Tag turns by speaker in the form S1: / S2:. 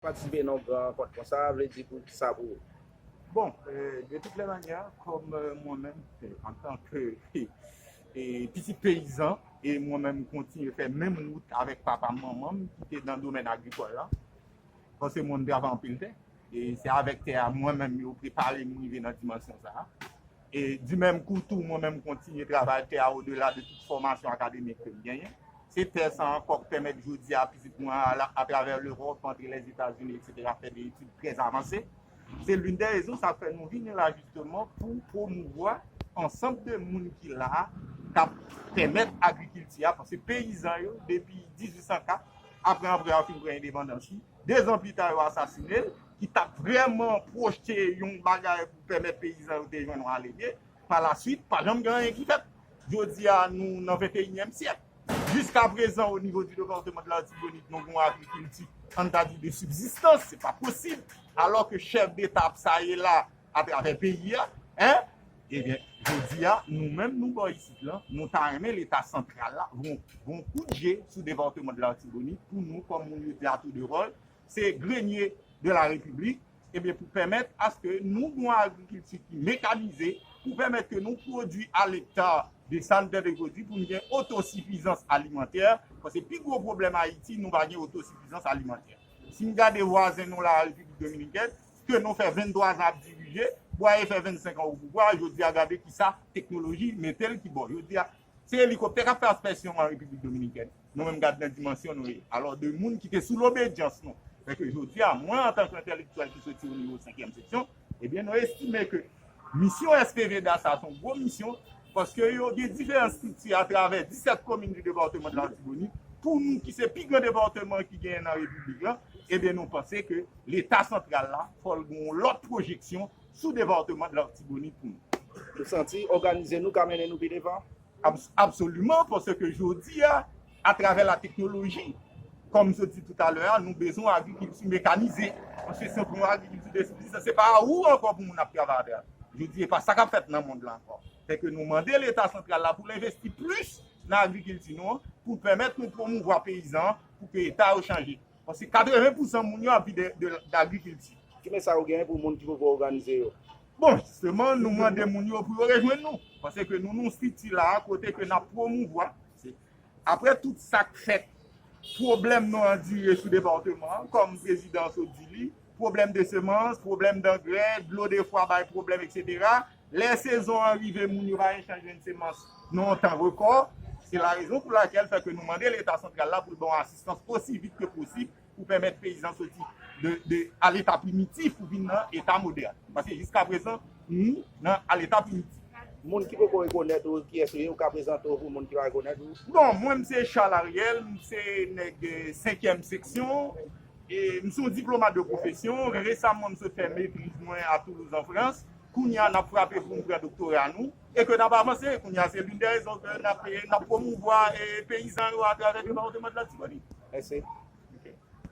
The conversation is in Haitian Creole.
S1: Patisipe nan yon gran rankont konsa a vle di pou sa pou ou? Bon,
S2: de tout lè manyè, kòm mwen menm antan ke pitit peyizan e mwen menm kontinye fè menm wout avèk papa m, manman m ki te nan domèn agrikòl la, paske mwen m travay anpil tè e se avèk tè a mwen menm yo prepare m rive nan dimansyon sa a. E di menm kou tou, mwen menm kontinye travay tè a odela de tout fòmasyon akademik ke m genyen. Se tè sa ankò k pèmèt jodi a pitit mwen an al atravè Lewòp, antre Lèzetazini eksetera fè de etid trè avanse. Se linn dè rezon sa k fè nou vini la jisteman pou pwomouvwa ansanm de moun ki la a k ap pèmèt agrikilti a, paske peyizan yo depi 1804 apre anprè a fin pran endepandans li, 2 zan pita yo asasine l, ki t ap vrèman pwojte yon bagay pou pèmèt peyizan yo te jwenn yon alebye. Pa la swit, pa janm gen anyen ki fèt. Jodi a, nou nan venteyinyèm syèk. Jiska prezan o nivo di depatman de Latibonit nou gen yon agrikilti an n ta di de sibzistans, se pa posib, alò ke chèf deta ap saye la atravè peyi a. Ebyen jodi a nou menm nou bò isit lan nou ta renmen leta santral la voun voun kout je sou depatman de l'Artibonite pou nou kòm moun yo di a tou de ròl se grenye de la repiblik ebyen pou pèmèt aske nou voun agrikilti ki mekanize pou pèmèt ke nou pwodui a lekta de sa nou te vle pwodui pou nou gen otosifizans alimantè paske pi gwo pwoblèm Ayiti nou pa gen otosifizans alimantè si nou gade vwazen nou la Repiblik Dominikèn ke nou fè 23 zan ap dirije, Bwaye fè 25 an opouvwa, jodi a gade kisa teknoloji mete l ki bò. Jodi a, se elikoptè k ap fè aspèsyon an Repiblik Dominiken. Nou menm gad nan dimansyon nou ye. Alò 2 moun ki te sou lobedyans nou, men ke jodi a, mwen antanke entèlektyèl ki soti o nivo senkyèm seksyon, ebyen nou estime ke, Misyon SP Veda sa son gwo misyon paske yo gen diferan strikti atravè 17 komin di depatman Latibonit pou nou ki se pi gran depatman ki genyen nan repiblik lan ebyen nou panse ke leta santral la fòl gen yon lòt pwojeksyon sou depatman Latibonit pou nou. Nou santi
S1: òganize nou ka mennen nou pi devan. Absoliman,
S2: paske jodi a, atravè la teknoloji, kòm m sot di toutalè a, nou bezwen yon agrikilti mekanize. Paske si pou yon agrikilti de sibsistans, se pa ou ankò pou moun ap travay avè l. Jodi e pa sa k ap fèt nan mond lan ankò. Fè ke nou mande leta santral la pou l envesti plis nan agrikilti nou an, pou l pèmèt nou pwomouvwa peyizan an, pou ke eta yo chanje. Paske 80 pousan moun yo ap vi de d'agrikilti. Ki mesay ou genyen
S1: pou moun ki poko oganize yo? Bon, jisteman
S2: nou mande moun yo pou yo rejwenn nou. Pase ke nou nou strikti la a kote ke nap pwomouvwa. Apre tout sak fèt, pwoblèm nou andire sou departeman an, kòm prezidan sot di li. pwoblèm de semans, pwoblèm dangrè, dlo defwa bay pwoblèm etc. Lè sezon an rive moun yo pa gen chans jwenn semans nan yon tan rekò, se la rezon pou lakèl fè ke nou mande leta santral la pou l ban yon asistans osi vit ke posib pou pèmèt peyizan soti de a leta primitif pou vin nan eta modèn. Paske jiska prezan nou nan a leta primitif. Moun ki poko
S1: rekonèt ou, kiyès ou ye, ou ka prezante w pou moun ki pa rekonèt ou? Bon, mwen m se
S2: Charles Ariel, m se nèg senkyèm seksyon, M se yon diplomat de pwofesyon. Resamman m sot fè metriz mwen a Toulouse an Frans. Kounye a n ap frape pou n pran doktora nou e ke n ap avanse. Kounye a se linn dè rezon ke n ap pwomouvwa peyizan yo atravè depatman de Latibonit.